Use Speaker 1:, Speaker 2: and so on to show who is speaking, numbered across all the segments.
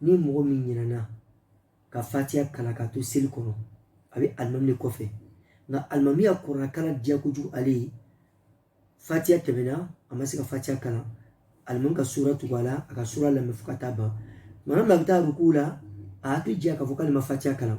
Speaker 1: ni mɔgɔ min ɲinɛna ka fatiya kalan ka to seli kɔnɔ a bɛ alimami de kɔfɛ nka alimami ya kuranɛ kalan diya kojugu ale ye fatiya tɛmɛna a ma se ka fatiya kalan alimami ka sura tugu a la a ka sura lamɛn fo ka taa ban tuma min na a bɛ taa ruku la a hakili jigira k'a fɔ k'ale ma fatiya kalan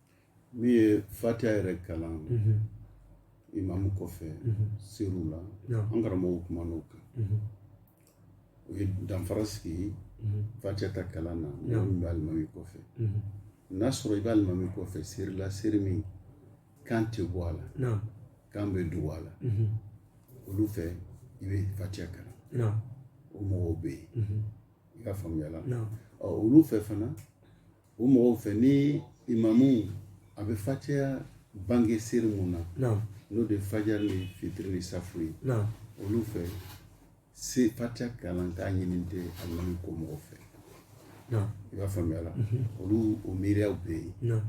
Speaker 1: Min
Speaker 2: ye fatiya yɛrɛ kalan imamu kɔfɛ seri la an karamɔgɔ kumana o kan u ye danfara sigi fatiya ta kalan na min bɛ alimami kɔfɛ n'a y'a sɔrɔ i b'alimami kɔfɛ seri la seri min kan tɛ bɔ a la
Speaker 1: kan bɛ dugu
Speaker 2: a la olu fɛ i bɛ fatiya kalan o
Speaker 1: mɔgɔw bɛ
Speaker 2: yen i b'a faamuya la olu
Speaker 1: fɛ fana
Speaker 2: o mɔgɔw fɛ ni imamu a bɛ fatiya bange seri min na n'o de
Speaker 1: fajar
Speaker 2: ni fitiri ni safo ye olu fɛ se fatiya kalan k'a ɲini tɛ alimami kɔ mɔgɔw
Speaker 1: fɛ i b'a faamuya
Speaker 2: la mhm. olu o miiriyaw bɛ yen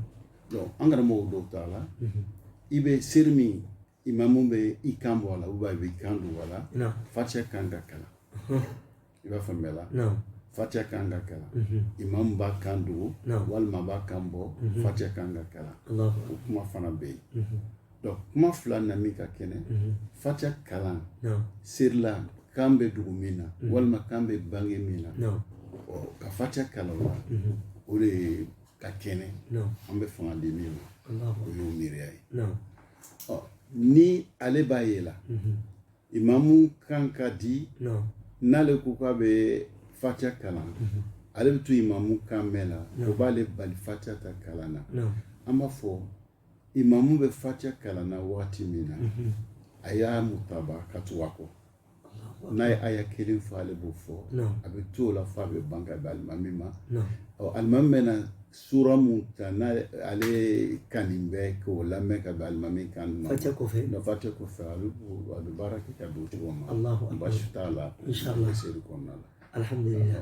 Speaker 1: an karamɔgɔw
Speaker 2: dɔw ta la mhm. i bɛ seri min imamu bɛ i kan bɔ a la ou bien a bɛ i kan dugu a la fatiya
Speaker 1: kan ka
Speaker 2: kalan i b'a faamuya la
Speaker 1: fatiya kan
Speaker 2: ka kalan imamu b'a kan dugu walima b'a kan bɔ fatiya kan ka kalan o kuma
Speaker 1: fana bɛ
Speaker 2: yen donc kuma fila na min ka kɛnɛ fatiya kalan seri la kan bɛ dugu min na walima kan bɛ bange min na ka fatiya kalan o la o de ka kɛnɛ an bɛ fanga di min ma o y'o
Speaker 1: miiriya ye ɔ
Speaker 2: ni ale b'a ye la mhm. imamu kan ka di n'ale
Speaker 1: ko k'a
Speaker 2: bɛ fatiya kalan mhm. ale bɛ to imamu kan mɛn la o b'ale bali fatiya ta kalan na an b'a fɔ imamu bɛ fatiya kalan na wagati min na mhm. a y'a mutaba ka tugu a kɔ n'a ye aya kelen fɔ ale b'o fɔ a bɛ to o la fo a bɛ ban ka bɛn alimami ma ɔ alimami mana sura min ta n'a ale kanni bɛ k'o lamɛn ka bɛn alimami kan ma fatiya kɔfɛ n'o
Speaker 1: fatiya kɔfɛ
Speaker 2: a bɛ a bɛ baara kɛ ka don o cogo ma baasi t'a
Speaker 1: la
Speaker 2: seri
Speaker 1: kɔnɔna la
Speaker 2: alihamudulila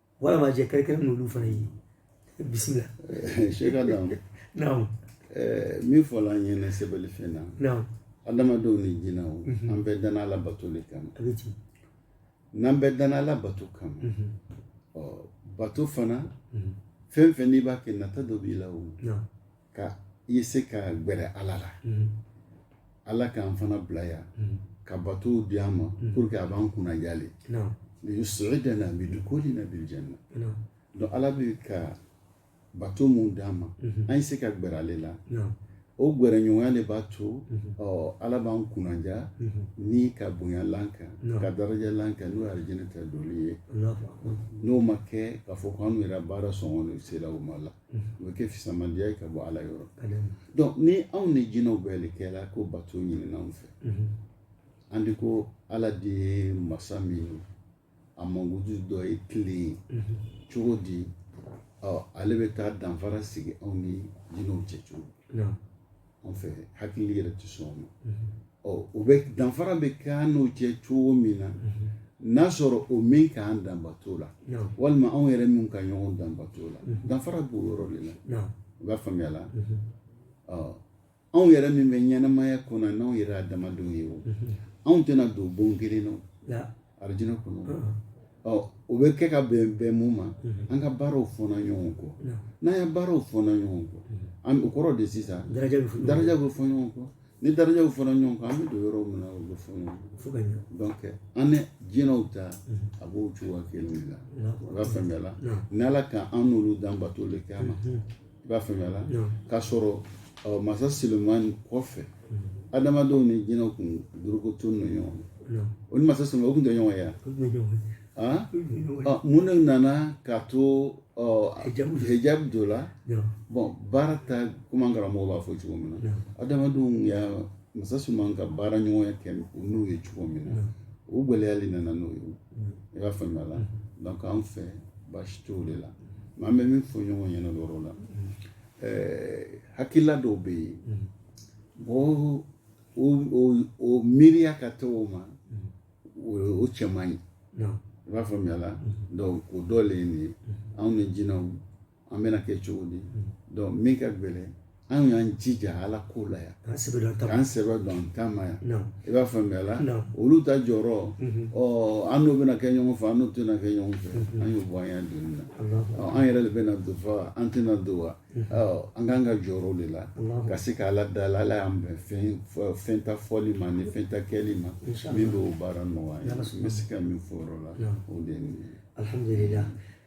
Speaker 1: walama jɛ kɛrɛkɛrɛ n'olu fana ye bisimila sɛki
Speaker 2: Adam
Speaker 1: naamu min
Speaker 2: fɔla an ɲɛna sɛbɛli fɛn na naamu
Speaker 1: adamadenw ni
Speaker 2: jinɛw an bɛɛ danna Ala bato de kama a bɛ
Speaker 1: ten
Speaker 2: n'an bɛɛ danna Ala bato kama ɔ bato fana fɛn fɛn n'i b'a kɛ nata dɔ b'i la o naamu
Speaker 1: k'a
Speaker 2: ye se ka gbɛrɛ ala la mm-hmm. ala k'an fana bila yan mm-hmm. ka batow di an ma mm-hmm. pour que a b'an kunnadiya
Speaker 1: le liyus'idana
Speaker 2: bi dukulina bil janna donc ala
Speaker 1: bɛ
Speaker 2: ka bato min d'an ma an ye se ka gbɛrɛ ale la o gɛrɛɲɔgɔnya de b'a to ɔ ala b'an kunnadiya ni ka bonyalan kan ka darajalan kan n'o ye alijinɛ ta donli ye n'o ma kɛ k'a fɔ k'an yɛrɛ baara sɔngɔ sera o ma la o bɛ kɛ fisamandiya ye ka bɔ ala yɔrɔ donc ni anw ni jinɛw bɛɛ de kɛla ko bato ɲinina anw fɛ an de ko ala de ye masa min ye a mankutu dɔ ye tilen ye cogo di ɔ ale bɛ taa danfara sigi anw ni jinɛw cɛ cogo an fɛ hakili yɛrɛ tɛ sɔn o ma o bɛ danfara bɛ kɛ an n'o cɛ cogo min na n'a sɔrɔ o min k'an dan bato la walima anw yɛrɛ min ka ɲɔgɔn dan bato la danfara b'o yɔrɔ de la i b'a faamuya la anw yɛrɛ min bɛ ɲɛnamaya kɔnɔ n'anw yɛrɛ adamadenw ye o anw tɛna don bon kelen na alijinɛ kɔnɔ ɔ o bɛ kɛ ka bɛn mun ma an ka baaraw fɔnna ɲɔgɔn kɔ n'an ya baaraw fɔnna ɲɔgɔn kɔ an o kɔrɔ de sisan daraja bɛ fɔ daraja bɛ fɔ ɲɔgɔn kɔ ni darajaw fɔnna ɲɔgɔn kɔ an bɛ don yɔrɔ min na o bɛ fɔ ɲɔgɔn kɔ fo ka ɲɛ donc an ni jinɛw ta a b'o cogoya kelen de la i b'a faamuya la n'ala k'an n'olu dan bato le kama i b'a faamuya la k'a sɔrɔ masa silamani kɔfɛ adamadenw ni jinɛw kun dorogo to ninnu ɲɔgɔn o ni masa silamani o kun tɛ ɲɔgɔn ye mun de nana k'a to hijab don la bɔn baara ta komi an karamɔgɔ b'a fɔ cogo min na adamadenw y'a masa silamani ka baara ɲɔgɔnya kɛ n'u ye cogo min na o gɛlɛya le nana n'o ye i b'a faamuya la donc an fɛ baasi t'o de la mais an bɛ min fɔ ɲɔgɔn ɲɛna o yɔrɔ la hakilila dɔw bɛ yen mɔgɔ o miiriya ka taa o ma o cɛ man ɲi i b'a faamuya la donc o dɔ le ye nin ye anw ni jinɛw an bɛna kɛ cogo di donc min ka gɛlɛn an y'an jija ala ko la yan k'an sɛbɛ don an ta ma k'an sɛbɛ don an ta ma yan i b'a faamuya la olu ta jɔyɔrɔ ɔ an n'o bɛna kɛ ɲɔgɔn fɛ an n'o tɛna kɛ ɲɔgɔn fɛ an y'o bɔ an y'a donni na an yɛrɛ de bɛna don fa an tɛna don wa an k'an ka jɔyɔrɔ de la ka se ka ala dali ala y'an bɛn fɛn fɛn ta fɔli ma ni fɛn ta kɛli ma min bɛ o baara nɔgɔya n bɛ se ka min fɔ o yɔrɔ la o de ye nin ye alihamudulila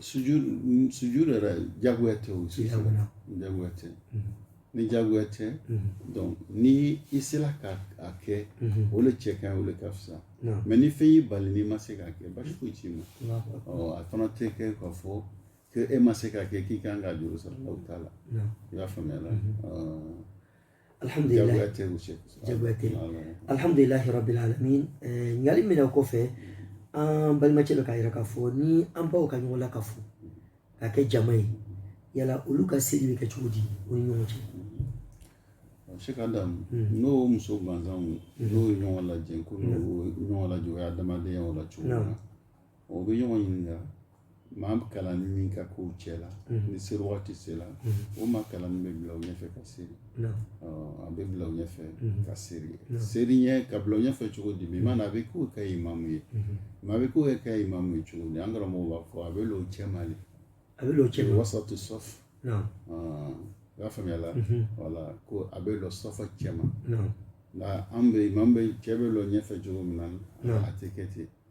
Speaker 2: sujud sujud yɛrɛ jagoya tɛ o sujud jagoya tɛ ni jagoya tɛ donc ni i sera ka a kɛ o le cɛ ka ɲi o le ka fisa mais ni fɛn y'i bali n'i ma se k'a kɛ basi foyi t'i ma ɔ a fana tɛ kɛ k'a fɔ ko e ma se k'a kɛ k'i kan ka juru sara o t'a la i y'a faamuya la
Speaker 1: alhamdulilayi jagoya tɛ alhamdulilayi rabil alamin ɲininkali min na o kɔfɛ an balimacɛ dɔ k'a yira k'a fɔ ni an baw ka ɲɔgɔn lakafo ka kɛ jama ye yala olu ka seli bɛ kɛ cogo di o ni ɲɔgɔn
Speaker 2: cɛ sheikh adam n'o muso gansanw n'o ye ɲɔgɔn lajɛ ko ɲɔgɔn lajɛ o ye adamadenya o la cogo min na o bɛ ɲɔgɔn ɲininka maa kalannin min ka kɛ u cɛ la ni seri waati sera o maa kalannin bɛ bila u ɲɛfɛ ka seri a bɛ bila u ɲɛfɛ ka seri seri ɲɛ ka bila u ɲɛfɛ cogo di bi maana a bɛ k'o kɛ imamu ye mais a bɛ k'o kɛ imamu ye cogo di an karamɔgɔw b'a fɔ a bɛ l'o cɛma le a bɛ l'o
Speaker 1: cɛma wasatu safu
Speaker 2: i y'a faamuya la wala ko a bɛ lɔ safu cɛma nka an bɛ imamu bɛ cɛ bɛ lɔ ɲɛfɛ cogo min na a tɛ kɛ ten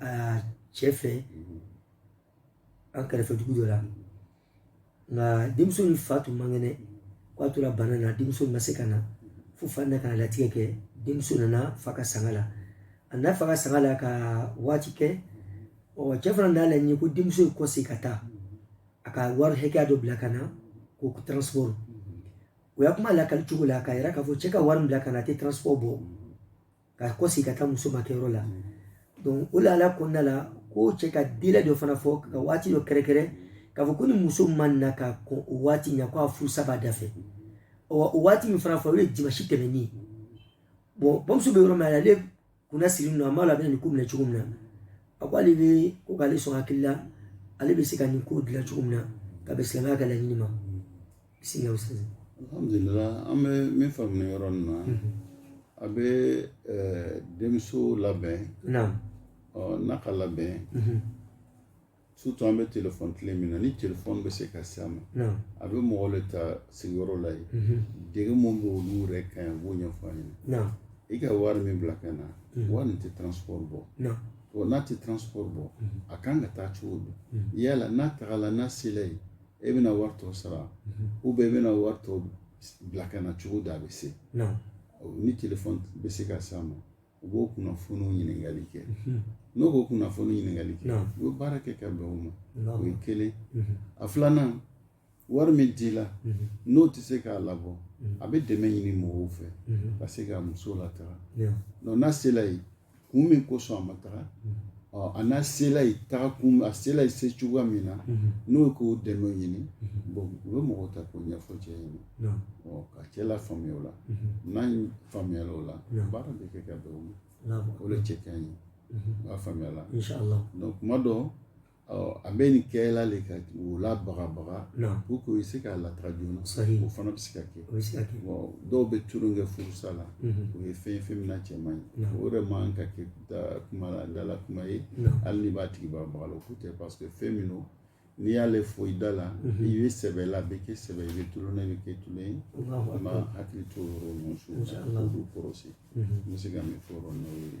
Speaker 1: a cɛ fɛ an kɛrɛfɛ dugu dɔ la nka denmuso ni fa tun man kɛnɛ k'a tora bana na denmuso ma se ka na fo fa na ka latigɛ kɛ denmuso nana fa ka sanga la a na fa ka sanga la ka waati kɛ ɔ cɛ fana n'a laɲini ko denmuso ye kɔsegin ka taa a ka wari hakɛya dɔ bila ka na ko transport o y'a kuma lakali cogo la k'a yira k'a fɔ cɛ ka wari min bila ka na a tɛ transport bɔ ka kɔsegin ka taa muso makɛ yɔrɔ la donc o lahala kɔnɔna la ko cɛ ka délai dɔ fana fɔ ka waati dɔ kɛrɛnkɛrɛn k'a fɔ ko ni muso ma na ka kɔn o waati ɲa ko a furusa b'a da fɛ o waati min fana fɔ o ye dimasi tɛmɛnen ye bon bamuso bɛ yɔrɔ min ale kunna sirinin lo a m'a lɔn a bɛna nin ko minɛ cogo min na a ko ale bɛ ko k'ale sɔn hakili la ale bɛ se ka nin ko dilan cogo min na ka bɛn silamɛya ka laɲini ma
Speaker 2: alhamdulila an bɛ min faamuya yɔrɔ nin na a bɛ denmuso labɛn n'a ka labɛn surtout an bɛ telefɔni tile min na ni telefɔni bɛ se ka s'a ma a bɛ mɔgɔ le ta sigiyɔrɔ la yen degun min bɛ olu yɛrɛ kan i b'o ɲɛfɔ a ɲɛna i ka wari min bila ka na wari nin tɛ transport bɔ n'a tɛ transport bɔ a kan ka taa cogo di yala n'a tagala n'a sela yen e bɛna wari tɔ sara ou bien e bɛna wari tɔ bila ka na cogo di a bɛ se ni telefɔni bɛ se ka s'a ma u b'o kunnafoniw ɲininkali kɛ n'o k'o kunnafoni ɲininkali kɛ u bɛ baara kɛ ka bɛn o ma o ye kelen a filanan wari min dila n'o tɛ se k'a labɔ a bɛ dɛmɛ ɲini mɔgɔw fɛ ka se ka muso lataga n'a sela yen kun min kosɔn a ma taga a n'a sela yen taga kun a sela yen se cogoya min na n'o ye k'o dɛmɛ ɲini bon u bɛ mɔgɔw ta k'o ɲɛfɔ cɛ ɲɛna ka cɛ lafaamuya o la n'a faamuyala o la baara bɛ kɛ ka bɛn o ma o de cɛ ka ɲi i b'a faamuya la kuma dɔ A bɛ nin kɛla le ka o labagabaga pour que o se k'a lataa joona sa o fana bɛ se ka kɛ dɔw bɛ tulon kɛ furusa la o ye fɛn fɛn min cɛ man ɲi o yɛrɛ man ka kɛ dala kuma ye hali n'i b'a tigi bagabaga ko tɛ parce que fɛn min don n'i y'ale fɔ i da la i bɛ sɛbɛ la a bɛ kɛ sɛbɛ i bɛ tulon na a bɛ kɛ tulon ye an b'an hakili to o yɔrɔ su kɔrɔsi n bɛ se ka min fɔ yɔrɔ n'o ye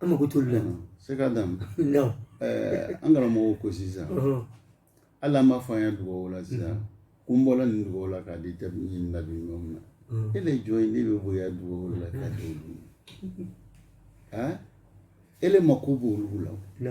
Speaker 2: an
Speaker 1: mago t'olu la se ka
Speaker 2: dan an karamɔgɔw ko sisan hali an b'a fɔ an ye dugawu la sisan ko n bɔra nin dugawu la k'a di tɛ ɲini nabi ɲɔgɔn na e le jɔn ye ne bɛ bonya dugawu la k'a di olu ma e le mako b'olu la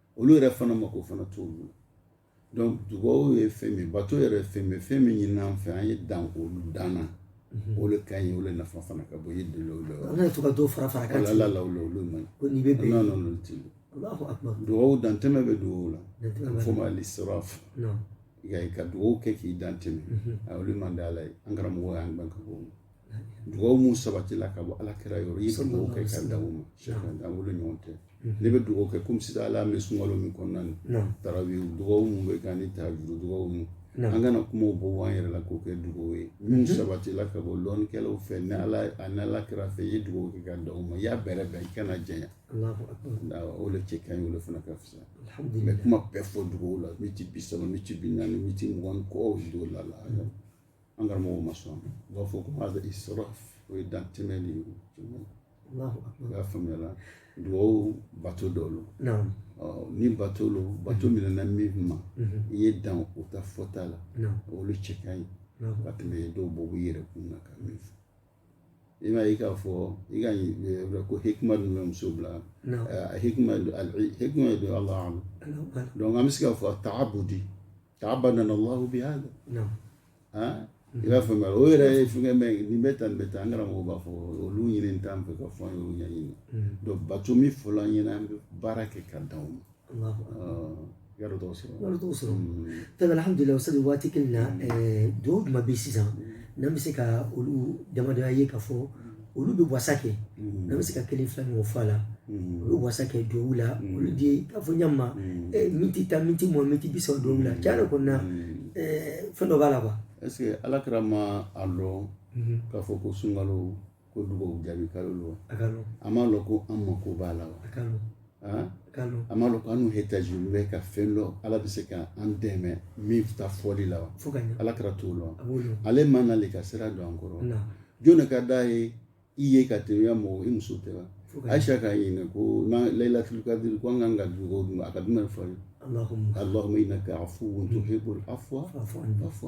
Speaker 2: olu yɛrɛ fana mako fana t'olu la donc dugawu ye fɛn min bato yɛrɛ ye fɛn min fɛn min ɲinina an fɛ an ye dan olu dan na mhm. o de ka ɲi o de nafa fana ka bon i ye deli o la an kana to ka dɔ fara fara
Speaker 1: kan ala la olu olu
Speaker 2: man ko n'i bɛ bɛn
Speaker 1: ala olu
Speaker 2: ti dugawu dantɛmɛ bɛ dugawu la fɔ o ma al israf i ka dugawu kɛ k'i dantɛmɛ mhm. a olu man di ala ye an karamɔgɔ y'an ban ka bɔ dugawu min sabatila ka bɔ ala kira yɔrɔ i ka dugawu kɛ ka dan o ma sɛfan da wolo ɲɔgɔn tɛ ne bɛ dugawu kɛ komi sisan ala bɛ sunkalo min kɔnɔna na tarawi dugawu mun bɛ kɛ ani tahajudi dugawu mun an kana kumaw bɔ an yɛrɛ la k'o kɛ dugawu ye min sabatila ka bɔ lɔnnikɛlaw fɛ ni ala a ni ala kira fɛ i ye dugawu kɛ ka dan o ma i y'a bɛrɛ bɛn i kana janya o de cɛ ka ɲi o de fana ka fisa mais kuma bɛɛ fɔ dugawu la miti bi saba miti bi naani miti mugan kɔ dugawu la la an karamɔgɔw ma sɔn u b'a fɔ ko hada israf o ye dantɛmɛ de ye i b'a faamuya la dugawu bato dɔ lo ni bato lo bato mhm. minɛna min ma mhm. i ye dan o ta fɔta la olu cɛ ka ɲi ka tɛmɛ ye dɔw bɔ u yɛrɛ kun na ka min fɔ i b'a ye k'a fɔ i ka eh, ko hikima dun bɛ muso bila eh, hikima hikima ye don allahu alam donc an bɛ se k'a fɔ taabudi taabadana allahu bihada non ah i b'a faamuya o yɛrɛ ye fɛngɛ mais nin bɛ tan nin bɛ tan an karamɔgɔ b'a fɔ olu ɲini t'an fɛ ka fɔ an y'olu ɲɛɲini donc bato min fɔla an ɲɛna an bɛ baara kɛ ka dan o ma i y'a dɔn tɔgɔ sɔrɔ yɔrɔ dɔw sɔrɔ tabi
Speaker 1: alhamdulilayi ustaz waati kelen na duwawu jumɛn bɛ sisan n'an bɛ se ka olu damadɔya ye ka fɔ olu bɛ wasa kɛ n'a bɛ se ka kelen fila ɲɔgɔn fɔ a la u bɛ wasa kɛ duwawu la olu de ye k'a fɔ ɲama miniti tan miniti mugan miniti bi saba duwawu la tiɲɛ yɛrɛ kɔni na fɛn dɔ b'a la quoi est-ce que ala kira
Speaker 2: m'a lɔn k'a fɔ ko sunkalo ko dugawu jaabi kalo lo a m'a lɔn ko an mako b'a la wa a ma dɔn ko an ihtaji bɛ ka fɛn dɔ ala bɛ se ka an dɛmɛ min ta fɔli la wa ala kira t'o lɔn ale man n'ale ka sira don an kɔrɔ jɔn ka d'a ye i ye ka tɛmɛ mɔgɔ i muso tɛ wa aisha k'a ɲininka ko n'an laylatul qadr ko an kan ka dugawu dun a ka jumɛn fɔ ye allahumma innaka afuwwun tuhibbul afwa fa'fu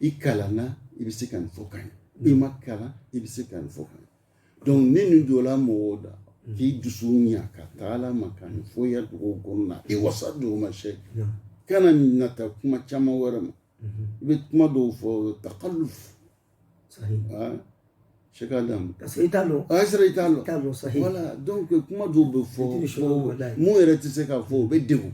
Speaker 2: i kalanna i bɛ se ka nin fɔ ka ɲɛ i ma kalan i bɛ se ka nin fɔ ka ɲɛ donc ni nin donna mɔgɔw da k'i dusu ɲa ka taa ala ma ka nin fɔ i ya dugawu kɔnɔna i wasa dugawu ma sheikh kana nata kuma caman wɛrɛ ma i bɛ kuma dɔw fɔ takalluf sheikh adama ka sɔrɔ i t'a dɔn a
Speaker 1: sera i t'a dɔn i t'a dɔn sahi
Speaker 2: voilà donc kuma dɔw bɛ fɔ mun yɛrɛ tɛ se ka fɔ o bɛ degun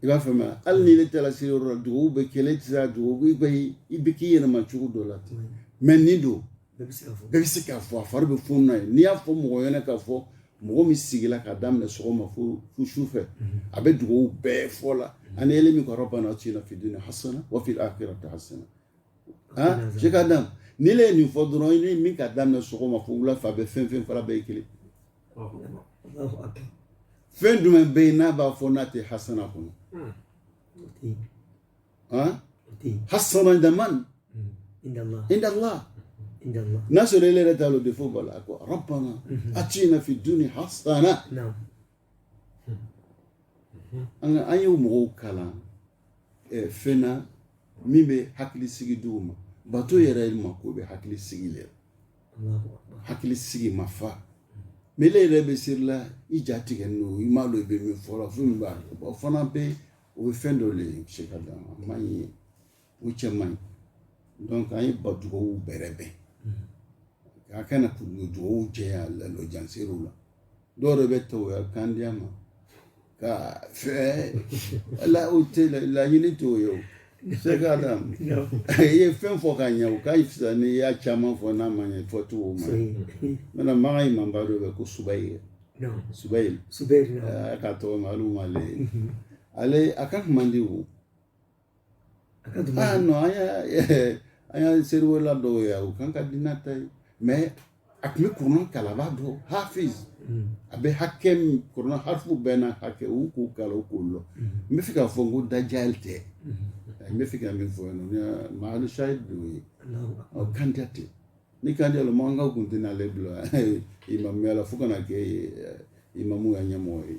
Speaker 2: i b'a faamuya mm. hali ni ne taara se yɔrɔ la dugawu bɛ kɛ ne tɛ se ka dugawu i bɛ i bɛ k'i yɛlɛma cogo dɔ la ten mais nin don bɛɛ bɛ se k'a fɔ a fari bɛ funu na ye n'i y'a fɔ mɔgɔ ɲɛna k'a fɔ mɔgɔ min sigila ka daminɛ sɔgɔma fo fo su fɛ mm-hmm. a bɛ dugawu bɛɛ fɔ la mm-hmm. ani ele min ko rabbana atina fi dunya hasana wa fi akhirati hasana ah sheikh adam n'ele ye nin fɔ dɔrɔn i ni min ka daminɛ sɔgɔma fo wula fɛ a bɛ fɛn fɛn fɔra bɛɛ ye kelen fɛn jumɛn bɛ yen n'a b'a fɔ n'a tɛ hasana kɔnɔ hasana daman inda allah n'a sɔrɔ ele yɛrɛ t'a dɔn defo b'a la a ko rabbana atina fi dunya hasana an ka an ye mɔgɔw kalan fɛn na min bɛ hakili sigi dugawu ma bato yɛrɛ mako bɛ hakili sigi le hakili sigi ma fa mais ele yɛrɛ bɛ seri la i jatigɛnin lo i m'a dɔn i bɛ min fɔ la fo min b'a o fana bɛ o bɛ fɛn dɔ de sheikh adama a man ɲi o cɛ man ɲi donc an ye ba dugawu bɛrɛbɛn an kana kɛ dugawu janya la lɔjan seriw la dɔw yɛrɛ bɛ tugu a ya kan diman kɔ fɛ ala o tɛ laɲini t'o ye o sheikh adam i ye fɛn fɔ ka ɲɛ o ka fisa n'i y'a caman fɔ n'a ma ɲɛ fɔ cogo ma maintenant makan imam ba dɔ bɛ ko subayil subayil suba ka tɔgɔ ma olu ma ale a kan man di o A ka dugu an an ye seriwelela dɔw ye u kan ka di n'a ta ye mɛ a tun bɛ kuranɛ kalan a b'a dɔn hafiz a bɛ hakɛ min kuranɛ harifu bɛɛ n'a hakɛ u k'o kalan k'o dɔn n bɛ fɛ k'a fɔ n ko dajali tɛ n bɛ fɛ ka min fɔ mahali shahid de o ye ɔ kandiya tɛ ni kandiya la mankan u tun tɛna ale bila imamuya la fo ka na kɛ imamu ka ɲɛmɔgɔ ye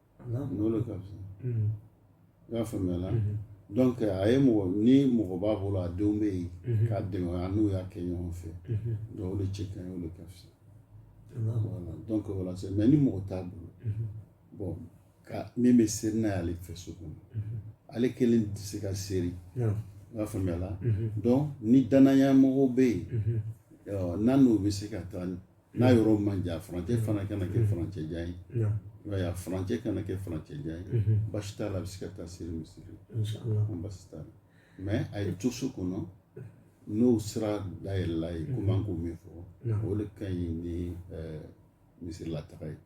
Speaker 2: n'o de ka fisa unhun, i y'a faamuya la unhun, donc a ye ni mɔgɔ b'a bolo a denw bɛ yen unhun, k'a dɛmɛ a n'u y'a kɛ ɲɔgɔn fɛ unhun, donc o de cɛ ka ɲi o de ka fisa Alahu voilà donc o la sisan mais ni mɔgɔ t'a bolo unhun, bon ka min bɛ seri n'a y'ale fɛ so kɔnɔ unhun, ale kelen tɛ se ka seri naam, i y'a faamuya la unhun, donc ni danaya mɔgɔw bɛ yen unhun, ɔ, n'a n'u bɛ se ka taa n'a yɔrɔ man jan furancɛ fana kana kɛ furancɛ jan ye i b'a ye a furancɛ kana kɛ furancɛ jan ye baasi t'a la a bɛ se ka taa seri misiri la baasi t'a la mɛ a ye to so kɔnɔ n'o sira dayɛlɛl'a ye komi an k'o min fɔ o de ka ɲi ni misirila taga ye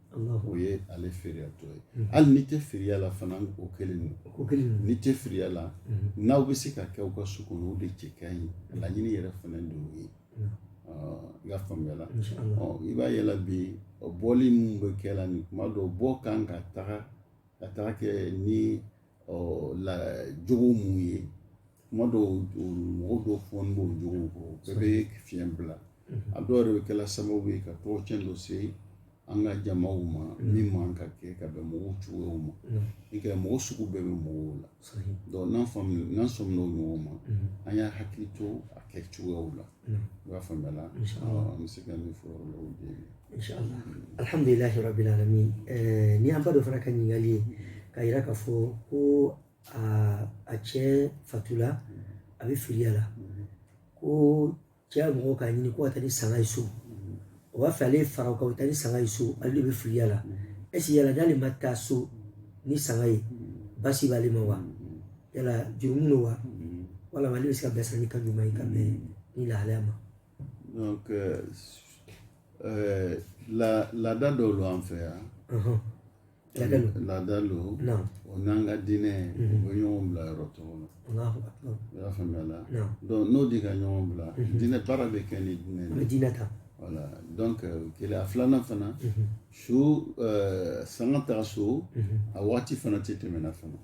Speaker 2: o ye ale firiyatɔ ye hali n'i tɛ firiya la fana o kelen don n'i tɛ firiya la n'aw bɛ se k'a kɛ aw ka so kɔnɔ o de cɛ ka ɲi laɲini yɛrɛ fana don o ye i y'a faamuyala i b'a ye la bi o bɔli minnu bɛ kɛ la nin kuma dɔw b'o kan ka taga ka taga kɛ ni la jogo minnu ye kuma dɔw mɔgɔ dɔw fɔ n b'o jogo kɔ bɛɛ bɛ fiɲɛ bila a dɔw yɛrɛ bɛ kɛla sababu ye ka tɔgɔcɛn dɔ se an ka jama ma min man ka kɛ ka bɛn mɔgɔw cogoyaw ma i ka mɔgɔ sugu bɛɛ bɛ mɔgɔw la donc n'an sɔmina o ɲɔgɔn ma an y'an hakili to a kɛ cogoyaw la i b'a faamuya la an bɛ se ka min fɔ yɔrɔ la o de
Speaker 1: ye alihamdulilahi rabili alamina ni an ba dɔ fana ka ɲininkali ye k'a yira k'a fɔ ko a cɛ fatula a bɛ filiya la ko cɛ ya mɔgɔw k'a ɲini ko ka taa ni sanga ye so o b'a fɛ ale ye fara o kan o taa ni sanga ye so ale de bɛ filiya la est-ce que yala n'ale ma taa so ni sanga ye basi b'ale ma wa yala jurumu don wa walama ale bɛ se k'u bilasira ni kan ɲuman ye ka bɛn ni lahalaya ma. donc
Speaker 2: euh, euh, la laada dɔw lo an fɛ yan. Uh -huh. laada lo o n'an ka diinɛ u bɛ ɲɔgɔn bila yɔrɔ dɔw la i y'a faamuya la n'o de ka ɲɔgɔn bila diinɛ baara bɛ kɛ ni diinɛ ye diinɛ ta voilà o kelen a filanan fana su sanga taga so a waati fana tɛ tɛmɛna fana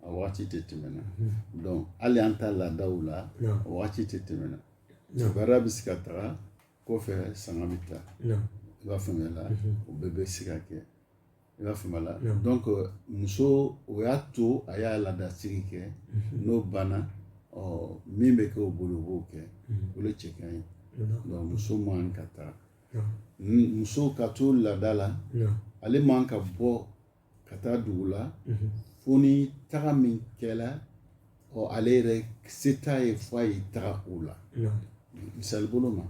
Speaker 2: a waati tɛ tɛmɛna hali an ta laadaw la a waati tɛ tɛmɛna baara bɛ se ka taga kɔfɛ sanga bɛ taa i b'a faamuya la mhm. o bɛɛ bɛ se ka kɛ i b'a faamuya la donc muso o y'a to a y'a laadasigi kɛ mhm. n'o banna ɔ min bɛ kɛ o bolo o b'o kɛ mhm. o de cɛ ka ɲi donc muso man ka taa muso ka to laada la ale man ka bɔ ka taa dugu la fo ni taga min kɛla ɔ ale yɛrɛ se t'a ye fo a ye taga o la misali bolo ma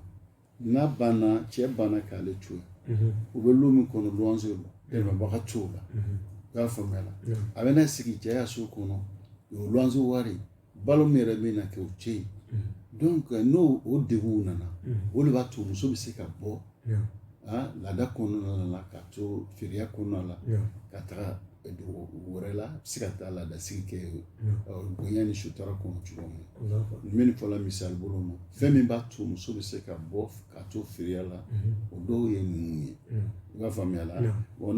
Speaker 2: n'a banna cɛ banna k'ale to yen u bɛ lu min kɔnɔ luwanse la dɛmɛbaga t'o la i y'a faamuya a bɛna sigi cɛ ya so kɔnɔ o luwanse wari balo min yɛrɛ bɛna kɛ o tɛ yen donc euh, n'o o degun nana o de b'a to muso bɛ se ka bɔ ah, laada kɔnɔna la ka to firiya kɔnɔna la ka taga dugu wɛrɛ la a bɛ se ka taa laadasigi kɛ bonya ni sutura kɔnɔ cogo min na n bɛ nin fɔla misali bolo ma fɛn min b'a to muso bɛ se ka bɔ ka to firiya la o dɔw ye ninnu ye i b'a faamuya la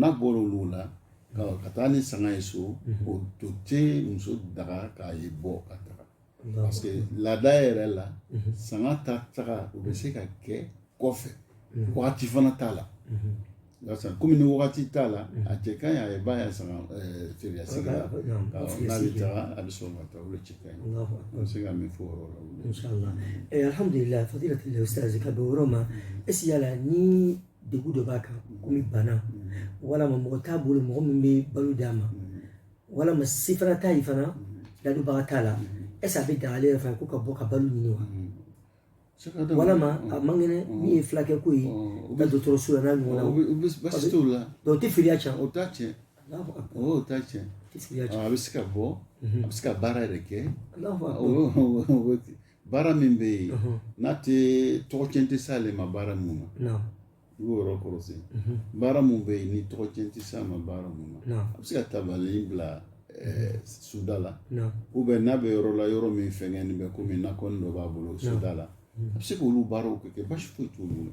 Speaker 2: n'a bɔra olu la ka taa ni sanga ye so o to tɛ muso daga k'a ye bɔ ka taga parce que laada yɛrɛ la sanga ta taga o bɛ se ka kɛ kɔfɛ wagati fana t'a la komi ni wagati t'a la a cɛ ka ɲi a ye ban a ya sanga firiya sigi la n'a bɛ taga a bɛ sɔn ka taa o de cɛ ka ɲi an bɛ se ka min fɔ o yɔrɔ la
Speaker 1: alhamdulilayi fadilatul ustaz ka bɛn o yɔrɔ ma est-ce que yala ni degun dɔ b'a kan komi bana walama mɔgɔ t'a bolo mɔgɔ min bɛ balo d'a ma walama se fana t'a ye fana ladonbaga t'a la est-ce que a bɛ daga ale yɛrɛ fana ko ka bɔ ka balo ɲini wa walama a man kɛnɛ min ye fulakɛ ko ye ka dɔgɔtɔrɔso la n'a ɲɔgɔnna basi
Speaker 2: t'o la o tɛ filiya cɛn
Speaker 1: o t'a
Speaker 2: tiɲɛ o t'a tiɲɛ a bɛ se ka bɔ a bɛ se ka baara yɛrɛ kɛ baara min bɛ yen n'a tɛ tɔgɔcɛn tɛ s'ale ma baara min na i b'o yɔrɔ kɔlɔsi baara min bɛ yen ni tɔgɔcɛn tɛ s'a ma baara min na a bɛ se ka tabali bila soda la ou bien n'a bɛ yɔrɔ la yɔrɔ min fɛngɛnnen bɛ komi nakɔ dɔ b'a bolo soda la a bɛ se k'olu baaraw kɛ basi foyi t'olu la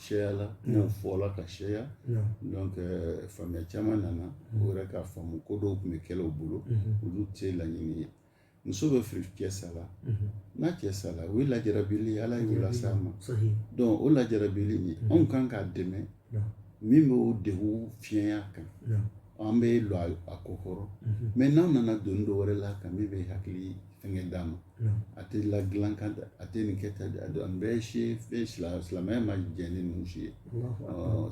Speaker 2: sɛya la n'o fɔla ka sɛya donc euh, faamuya caman nana o yɛrɛ k'a faamu ko dɔw kun bɛ kɛla u bolo olu tɛ laɲini ye muso bɛ firi cɛ sala n'a cɛ sala o ye lajarabili ala y'o lase a ma donc o lajarabili nin anw kan k'a dɛmɛ min bɛ o degun fiɲɛya kan an bɛ lɔ a kɔkɔrɔ mais n'an nana doni dɔ wɛrɛ la a kan min bɛ hakili fɛnkɛ d'a ma a tɛ la dilan kan a tɛ nin kɛ tan an bɛɛ si fɛn silamɛya ma jɛ ni ninnu si ye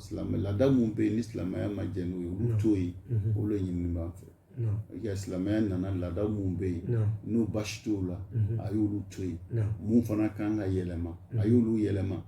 Speaker 2: silamɛ laada minnu bɛ yen ni silamɛya ma jɛ n'u ye olu to yen o le ɲinini b'an fɛ ka silamɛya nana laada minnu bɛ yen ni basi t'o la a y'olu to yen min fana kan ka yɛlɛma a y'olu yɛlɛma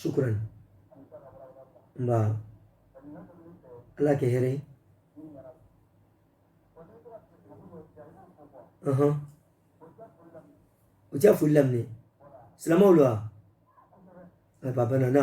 Speaker 1: sukuran nba ala kɛ hɛrɛ ye ɔhɔn u tɛ foli laminɛ silamɛw la wa a ba bana na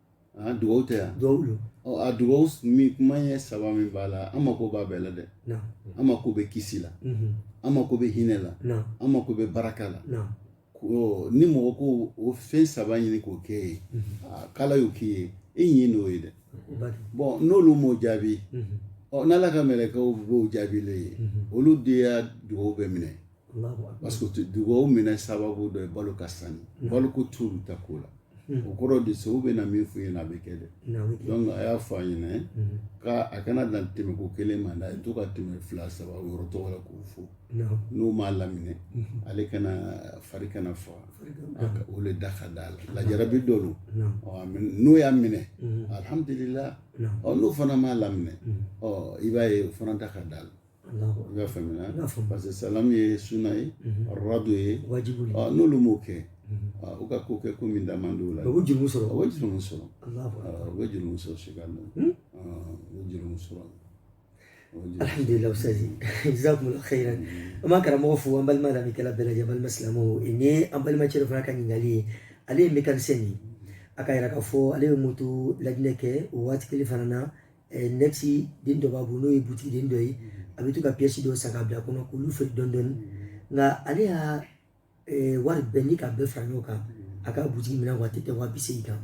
Speaker 2: A dugawu tɛ yan dugawu don a dugawu min kuma ye saba min b'a la an mako b'a bɛɛ la dɛ an mako bɛ kisi la an mako bɛ hinɛ la an mako bɛ baraka la ni mɔgɔ ko o fɛn saba ɲini k'o kɛ ye k'ala y'o k'i ye e ɲɛ n'o ye dɛ bɔn n'olu m'o jaabi ɔ n'ala ka mɛlɛkɛw b'o jaabi le ye olu de ya dugawu bɛ minɛ parce que dugawu minɛ sababu dɔ ye balo ka sani balo ko t'olu ta ko la o kɔrɔ de se u bɛ na min f'u ɲɛna a bɛ kɛ dɛ donc a y'a fɔ a ɲɛna k'a kana dan tɛmɛ ko kelen ma dɛ a ye to ka tɛmɛ fila saba yɔrɔ tɔgɔ la k'o fo n'o m'a laminɛ ale kana fari kana faga o le da ka d'a la lajarabi dɔ don n'o y'a minɛ alihamudulila ɔ n'o fana m'a laminɛ ɔ i b'a ye o fana da ka d'a la i y'a faamuya parce que salamu ye suna ye aradu ye n'olu m'o kɛ u ka ko kɛ ko min da man di o la u bɛ juru sɔrɔ u bɛ juru
Speaker 1: sɔrɔ u
Speaker 2: bɛ juru sɔrɔ sika na u bɛ juru sɔrɔ
Speaker 1: alhamdulilah usitazi jazakumulahu khairan an b'an karamɔgɔ fo an balima lamɛnkɛla bɛɛ lajɛlen balima silamɛw nin ye an balima cɛ dɔ fana ka ɲininkali ye ale ye mekanisɛn de ye a ka yira k'a fɔ ale bɛ moto lajinɛ kɛ o waati kelen fana na annexe den dɔ b'a bolo n'o ye butigi den dɔ ye a bɛ to ka piyɛsi dɔw san k'a bila kɔnɔ k'olu feere dɔɔni dɔɔni nka ale ya wari bɛɛ n'i k'a bɛɛ fara ɲɔgɔn kan a ka butigi minɛnw a tɛ tɛmɛ wa bi seegin kan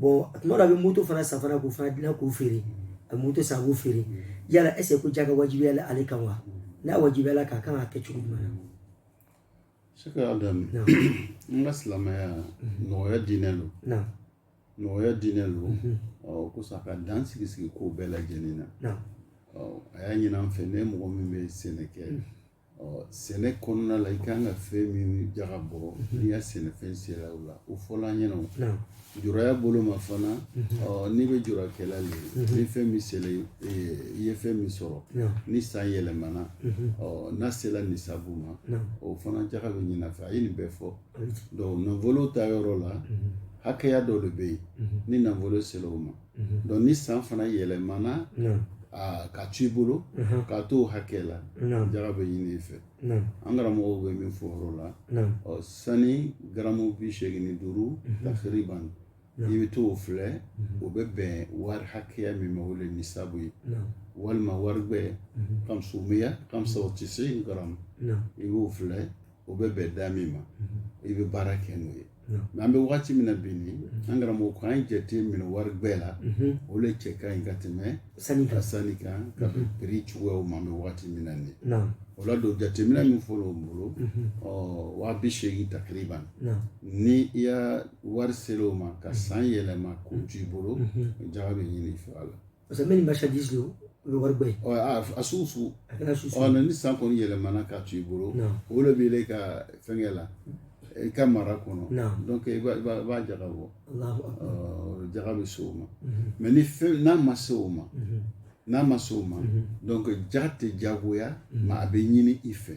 Speaker 1: bɔn tuma dɔ a bɛ moto fana san fana k'o fana dilan k'o feere a bɛ moto san k'o feere yala est-ce que jaka wajibiyala ale kan wa n'a wajibiyala k'a kan ka kɛ cogo jumɛn na
Speaker 2: sɛkɛ adamu an ka silamɛya nɔgɔya diinɛ don Nɔgɔya diinɛ don o kosɔn a ka dan sigi sigi ko bɛɛ lajɛlen na a y'a ɲini an fɛ ni mɔgɔ min bɛ sɛnɛ kɛ ɔ sɛnɛ kɔnɔna la i ka kan ka fɛn min jaga bɔ n'i ka sɛnɛfɛn sera o la o fɔra an ɲɛna juraya bolo ma fana ɔ n'i bɛ jurakɛla de ye ni fɛn min sera i ye fɛn min sɔrɔ ni san yɛlɛmana ɔ n'a sera nisabu ma o fana jaga bɛ ɲini i fɛ a ye nin bɛɛ fɔ Donc nafolo ta yɔrɔ la hakɛya dɔ de bɛ yen ni nafolo sera o ma donc ni san fana yɛlɛmana ka to i bolo ka to o hakɛ la jaga bɛ ɲini i fɛ an karamɔgɔw bɛ min fɔ yɔrɔ la ɔ sani garamu bi seegin ni duuru takiriban i bɛ to o filɛ o bɛ bɛn wari hakɛya min ma o le nisabu ye walima wari gbɛ kamsumiya kamsa wa tisin garamu i b'o filɛ o bɛ bɛn da min ma i bɛ baara kɛ n'o ye mɛ an bɛ waati min na bi ni an karamɔgɔ ko an jate minɛ warigbɛ la o de cɛ ka ɲi ka tɛmɛ sani ka sani kan ka bɛn piri cogoyaw ma an bɛ waati min na ni o la don jateminɛ min fɔlɔ o bolo waa bi seegin takiriban ni i ya wari sela o ma ka san yɛlɛma k'o t'i bolo jaga bɛ ɲini i fɛ a la parce que mɛ ni
Speaker 1: marchandise o bɛ wari bɔ ye a sugu
Speaker 2: sugu a kana su sugu ni san kɔni yɛlɛmana ka to i bolo o de bɛ ka fɛnkɛ la i ka mara kɔnɔ donc i b'a jaga bɔ jaga bɛ se o ma mɛ ni fɛn n'a ma se o ma n'a ma se o ma donc jaga tɛ jagoya mɛ a bɛ ɲini i fɛ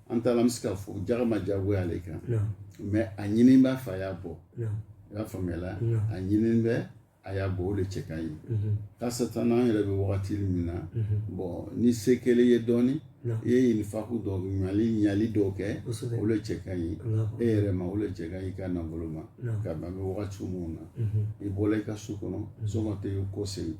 Speaker 2: an taara an bɛ se k'a fɔ jaga ma diyagoya ale kan mɛ a ɲini b'a fɛ a y'a bɔ i y'a faamuyala a ɲini bɛ a y'a bɔ o de cɛ ka ɲi mhm. kasatan an yɛrɛ bɛ wagati min na mhm. bɔn ni se kɛla i ye dɔɔni i ye infaku dɔ ɲali ɲali dɔw kɛ o de cɛ ka ɲi e yɛrɛ ma o de cɛ ka ɲi i ka nafolo ma ka ban bɛ wagati minnu na mhm. i bɔra i ka so kɔnɔ sɔgɔma tɛ ko segin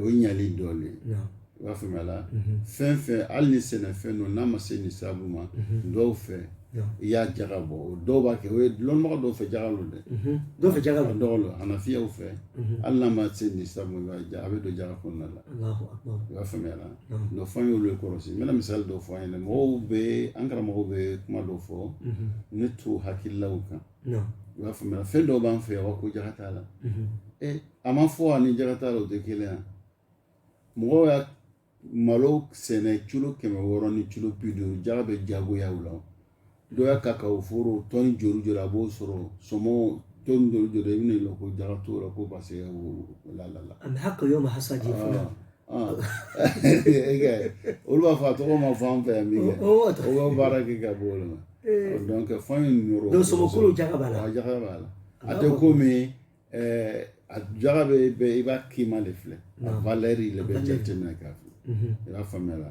Speaker 2: o ye ɲali dɔɔnin ye i b'a faamuya la fɛn fɛn hali ni sɛnɛfɛn don n'a ma se nisabu ma dɔw fɛ i y'a jaga bɔ o dɔw b'a kɛ i y'a lɔn mɔgɔ dɔw fɛ jaga don dɛ dɔw fɛ jaga don dɔw don anafiyuw fɛ hali n'a ma se nisabu ma a bɛ don jaga kɔnɔna la i b'a faamuya la donc fɔ an y'o le kɔlɔsi n bɛna misali dɔ fɔ aw ɲɛna mɔgɔw bɛ an karamɔgɔw bɛ kuma dɔ fɔ ne t'u hakililaw kan i b'a faamuya fɛn dɔw b'an fɛ yan ko jaka t'a la a ma fɔ ani jaka t'a la o tɛ kelen ye mɔgɔ ye malo sɛnɛ kilo kɛmɛ wɔɔrɔ ni kilo bi duuru jaka bɛ jagoya o la dɔ ya kakawo foro tɔni joli joli a b'o sɔrɔ sɔmɔ tɔni joli joli i bɛna ko jaka t'o la ko paseke o la la la. olu b'a fɔ a tɔgɔ ma fɔ an fɛ yan min kɛ o bɛ baara kɛ ka bɔ olu ma donc fɛn in yɔrɔ don sɔmɔkolo jaga b'a la jaga b'a la a tɛ komi a jaga bɛ bɛɛ i b'a kima de filɛ a valɛri de bɛ jateminɛ k'a filɛ i b'a faamuya la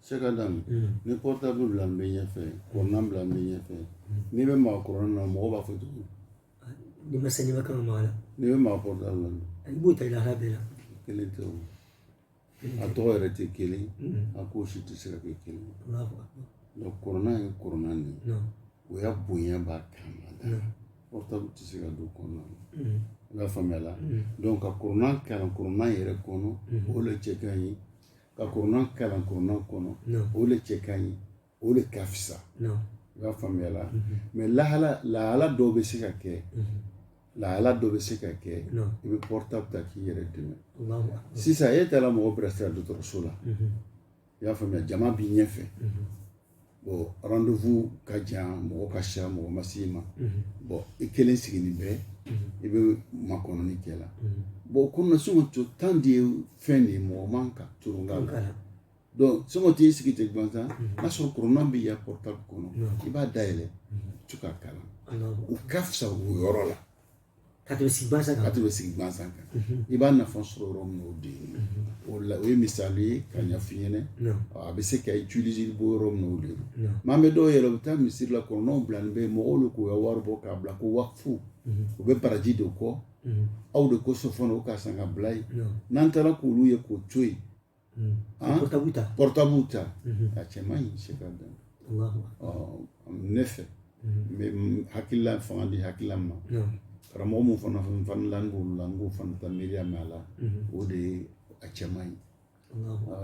Speaker 2: se ka d'a ma ni portable bilanin bɛ ɲɛfɛ kɔrɔnan bilanin bɛ ɲɛfɛ n'i bɛ maa kɔrɔnan na mɔgɔ b'a fɔ cogo di n'i ma
Speaker 1: saniya i ma kan ka maa a la n'i bɛ maa portable la
Speaker 2: i b'o ta i lahala bɛɛ
Speaker 1: la kelen tɛ o
Speaker 2: a tɔgɔ yɛrɛ tɛ kelen a ko si tɛ se ka kɛ kelen donc kɔrɔnan ye kɔrɔnan de ye o ya bonya b'a kan ka da portable tɛ se ka don kɔnɔna na i b'a faamuya la donc ka kɔrɔnan kalan kɔrɔnan yɛrɛ kɔnɔ o de cɛ ka ɲi ka kɔrɔnan kalan kɔrɔnan kɔnɔ o de cɛ ka ɲi o de ka fisa i b'a faamuya la mɛ lahala lahala dɔw bɛ se ka kɛ lahala dɔ bɛ se ka kɛ i bɛ portable ta k'i yɛrɛ dɛmɛ sisan e taara mɔgɔ bilasira dɔgɔtɔrɔso la i y'a faamuya jama b'i ɲɛfɛ bɔn randevu ka jan mɔgɔ ka ca mɔgɔ ma s'i ma bɔn i kelen sigilen bɛ i bɛ makɔnɔni kɛ la bɔn komi sɔngɔ to tan de ye fɛn de ye mɔgɔ man ka tulon k'a la donc sɔngɔ t'i sigi ten gansan n'a sɔrɔ kurana b'i ya pɔrɔtabu kɔnɔ i b'a dayɛlɛ tu k'a kalan o ka fisa o yɔrɔ la
Speaker 1: ka tɛmɛ sigi gansan
Speaker 2: kan i b'a nafa sɔrɔ yɔrɔ min o de ye o la o ye misali ye ka ɲɛf'i ɲɛna a bɛ se ka utiliser bɔ yɔrɔ min o de ye maa bɛ dɔw yɛrɛ u bɛ taa misiri la kuranaw bilalen bɛ mɔgɔw de k'u ka wari bɔ k'a bila ko wakufu u bɛ baraji de kɔ aw de kosɔn fana o k'a san k'a bila yen n'an taara k'olu ye k'o to yen pɔrɔtabu ta a cɛ man ɲi se ka dan ne fɛ n bɛ hakilila fanga di hakilila ma karamɔgɔ min fana fana la n b'olu la n k'o fana ta miiriya mɛn a la o de ye a cɛ man ɲi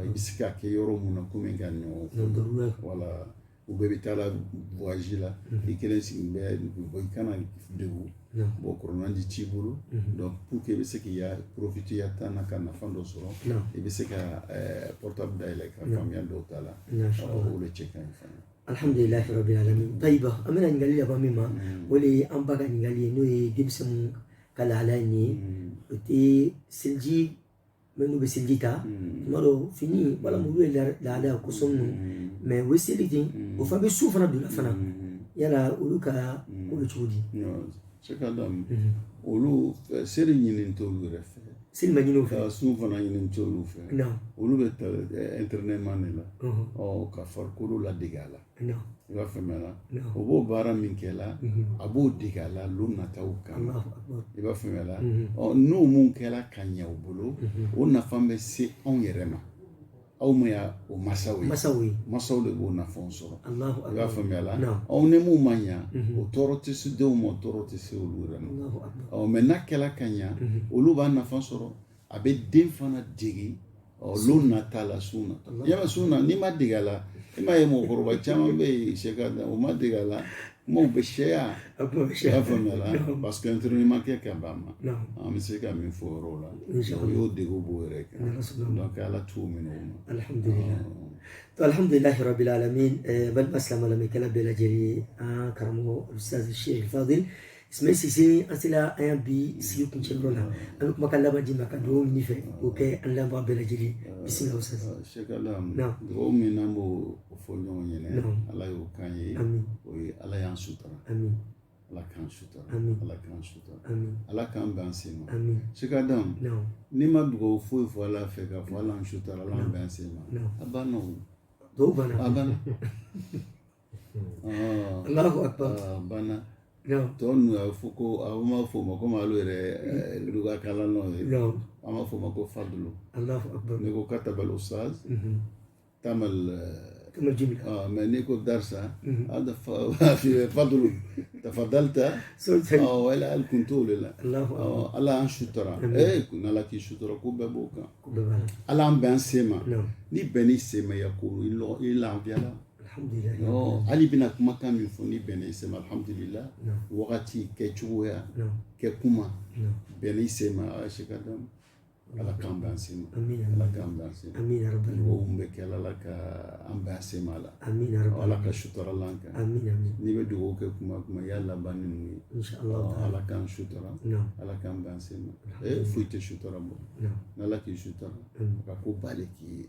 Speaker 2: i bɛ se k'a kɛ yɔrɔ mun na komi ka ɲɔgɔn wala u bɛɛ bɛ taa la voyage la i kelen sigi bɛ bɔn i kana degun bɔn kurana di t'i bolo pour que i bɛ se k'i ya porofite i ya tan na ka nafa dɔ sɔrɔ i bɛ se ka pɔrɔtabu dayɛlɛ ka faamuya dɔw ta la o de cɛ ka ɲi fana alhamdulilayi
Speaker 1: rabi alamin tayiba an bɛna ɲininkali laban min ma o de ye an ba ka ɲininkali ye n'o ye denmisɛnninw ka lahalaya in ye o tɛ seliji minnu bɛ seliji ta tuma dɔ fini walima olu ye lahala kosɔn ninnu mɛ u bɛ seli ten o fana bɛ sun fana don na fana yala olu ka ko bɛ cogo di se ka
Speaker 2: da olu seli ɲini t'olu yɛrɛ fɛ seli ma ɲini u
Speaker 1: fɛ sun fana ɲini
Speaker 2: t'olu fɛ olu bɛ ta ɛntɛrɛnɛman de la ka farikolo ladege a la i b'a faamuya o b'o baara min kɛ la a b'o dege a la don nataw kan i b'a faamuya la n'o mun kɛla ka ɲa u bolo o nafa bɛ se anw yɛrɛ ma aw min ye o masaw ye masaw de b'o nafa sɔrɔ i b'a faamuya la aw ni mun ma ɲa o tɔɔrɔ tɛ se denw ma o tɔɔrɔ tɛ se olu yɛrɛ ma ɔ mɛ n'a kɛla ka ɲa olu b'a nafa sɔrɔ a bɛ den fana dege don nata la sun na yala sun na n'i ma dege a la i m'a ye mɔgɔkɔrɔba caman bɛ yen sɛ ka o ma dege a la kumaw bɛ sɛya i b'a faamuya la parce que ɛntɛrɛnɛman ma kɛ ka ban ma an bɛ se ka min fɔ o yɔrɔ la o y'o dege b'o yɛrɛ kan donc ala t'u minɛ o ma alhamdulilah
Speaker 1: rabil alamin balima silamɛ lamɛnnikɛla bɛɛ lajɛlen an karamɔgɔ ustaz sheikh fadil Sime Sise an sela an ya bi sigi kuncɛ yɔrɔ la an bɛ kumakan laban d'i ma ka dugawu ɲin'i fɛ k'o kɛ an lamɛnbaga bɛɛ lajɛlen bisimila sa sekala dugawu
Speaker 2: min n'an b'o fɔ ɲɔgɔn ɲɛ na ala y'o kan ye o ye ala y'an sutura ala k'an sutura ala k'an sutura ala k'an bɛn an sen ma Sek Adam n'i ma dugawu foyi fɔ ala fɛ k'a fɔ ala an sutura ala an bɛn an sen ma a banna o dɔw banna a
Speaker 1: banna ala ko
Speaker 2: banna tɔ ninnu a bɛ fɔ ko a bɛ ma fɔ o ma komi alu yɛrɛ luga kalannaw ye an b'a fɔ o ma ko fadulu n'i ko katabal ustaz tamal
Speaker 1: mɛ n'i
Speaker 2: ko darisa hada fadulu tafadalita wala hali kun t'o de la ala y'an sutura ee ko n'ala k'i sutura ko bɛɛ b'o kan ala y'an bɛn an sen ma n'i bɛnn'i sen ma ya ko i lafiyala hali i bɛna kumakan min fɔ n'i bɛnna i sen ma alhamdulila wagati kɛ cogoya kɛ kuma bɛnna i sen ma Sek Adam ala k'an bɛn sen ma ala k'an bɛn sen ma dugawu min bɛ kɛ ala ka an bɛn sen ma la ala ka sutura l'an kan n'i bɛ dugawu kɛ kuma o kuma i y'a laban ni ninnu ye ala k'an sutura ala k'an bɛn sen ma foyi tɛ sutura bɔ n'ala k'i sutura ka ko bali k'i ye